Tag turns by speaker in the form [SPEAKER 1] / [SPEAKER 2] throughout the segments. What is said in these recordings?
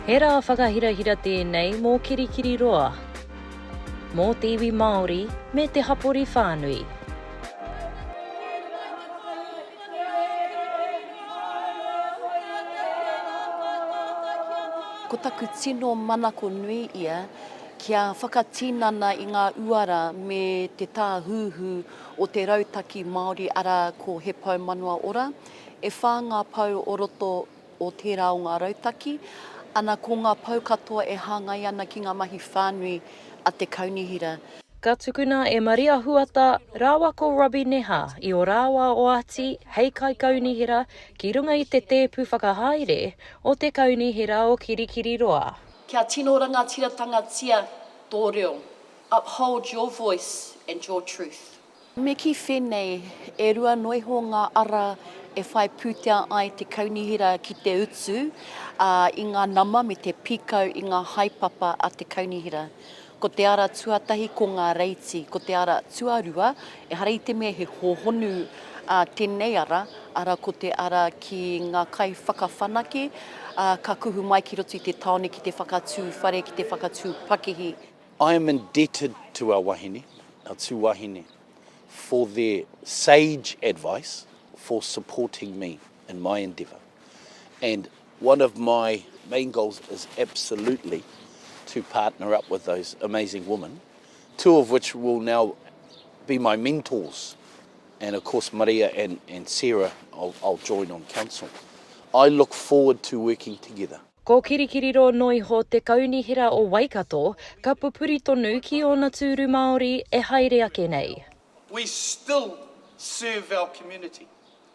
[SPEAKER 1] He rā whakahirahira tēnei mō Kirikiri Roa, mō te iwi Māori me te hapori whānui. Ko taku tino manako nui ia Kia whakatinana i ngā uara me te tāhuhu o te rautaki Māori arā ko He Pou Manawa Ora. E whā ngā pou o roto o tērā o ngā rautaki, ana ko ngā pou katoa e hāngai ana ki ngā mahi whānui a te Kaunihera. Ka tukuna e Maria Huata rāua ko Robbie Neha i ō rāua oati hei Kaikaunihera ki runga i te tēpu whakahaere o te Kaunihera o Kirikiriroa. Kia tino rangatiratangatia tō reo, uphold your voice and your truth. Me kī whēnei, e rua noa iho ngā ara e whai pūtea ai te kaunihera ki te utu i ngā nama me te pīkau i ngā haepapa a te kaunihera. Ko te ara tuatahi ko ngā reiti, ko te ara tuarua, ehara i te mea he hōhonu ā tēnei ara, arā ko te ara ki ngā kaiwhakawhanake, ā, ka kuhu mai ki roto i te tāone ki te whakatū whare, ki te whakatū pakihi. I am indebted to our wahine, our tū wahine, for their sage advice for supporting me. in my endeavour and one of my main goals is absolutely to partner up with those amazing women, two of which will now be my mentors. And of course, Maria and, and Sarah, I'll, I'll join on council. I look forward to working together. Ko Kirikiriro noa iho te kaunihera o Waikato, ka pupuri tonu ki ōna tūru Māori e haere ake nei. We still serve our community.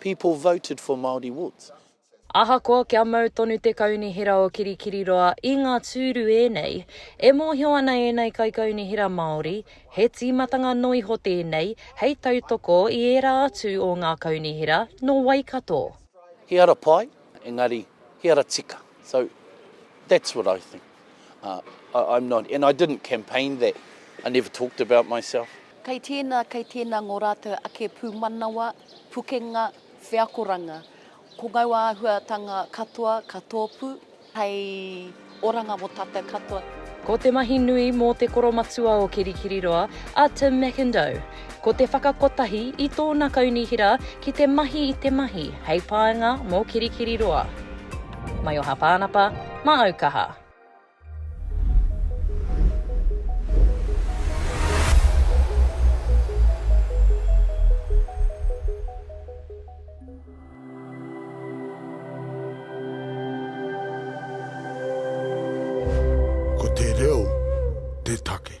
[SPEAKER 1] People voted for Māori Woods. Ahakoa kia mau tonu te kaunihera o Kirikiriroa i ngā tūru ēnei, e mōhio ana ēnei kaikaunihera Māori, he tīmatanga noa iho tēnei hei tautoko i ērā atu o ngā kaunihera nō Waikato. He ara pai, engari he ara tika. So, that's what I think. I'm not, and I didn't campaign that, I never talked about myself. Kei tēnā, kei tēnā ngō rātou ake pūmanawa, pukenga, wheakoranga. Ko ngau āhuatanga katoa ka tōpū hei oranga mō tātou katoa. Ko te mahi nui mō te koromatua o Kirikiriroa, a Tim McIndoe. Ko te whakakotahi i tōna kaunihera ki te mahi i te mahi hei painga mō Kirikiriroa. Maioha Pānapa, Māaukaha. Ko te reo te take.